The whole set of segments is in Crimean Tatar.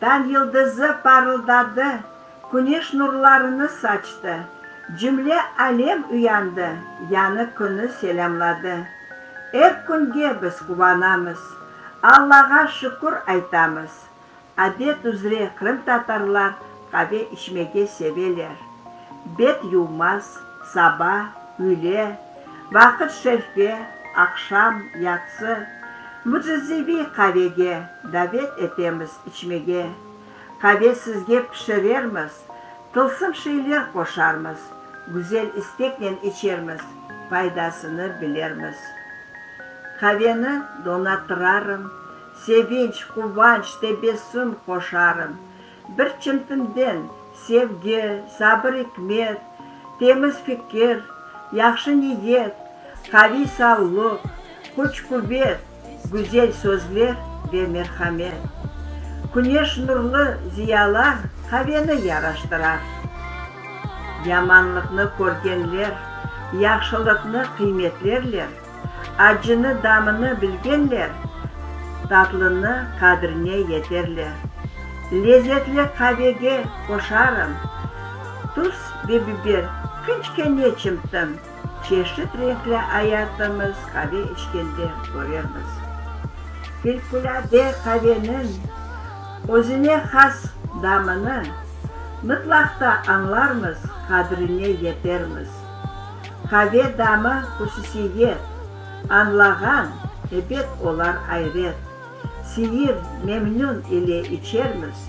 Tañ yıldızı parıldadı, küneş nurlarını saçtı, cümle alem uyandı, yañı künü selâmladı. Er künge biz quvanamız, Allağa şükür aytamız. Adet üzre qırımtatarlar qave içmege seveler. Bet yuvmaz, saba, üyle, vaqıt şerfge, aqşam, yatsı, mücizeviy qavege davet etemiz içmege. Qave sizge pişirermiz, tılsım şeyler qoşarmız, güzel isteknen içermiz, faydasını bilermiz. Qaveni donatırarım, sevinç, quvanç, tebessüm qoşarım, Bir çimtinden, sevgi, sabır-ikmet, temiz fikir, yahşı niyet, qaviy sağlıq, küç-quvet, güzel sözler ve merhamet. Küneş nurlı ziyalar qaveni yaraştırar. Yamanlıqnı körgenler yahşılıqnı qıymetlerler. Acını damını bilgenler, Tatlını qadrine yeterler. Lezetli qavege qoşarım Tuz ve biber, kiçke ne çimtim, Çeşit renkli ayatımız Qave içkende körermiz. Filkulâde qaveniñ Özüne has damını, Mıtlaqta añlarmız, Qadrine yetermiz. Qave damı hususiye, añlağan, ebet olar ayret. Seyir, memnün ile içermiz,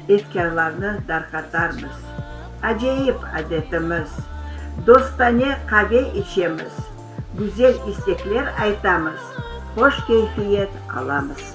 efkârlarnı darqatarmız. Acayip adetimiz, dostane qave içemiz, güzel istekler aytamız, hoş keyfiyet alamız.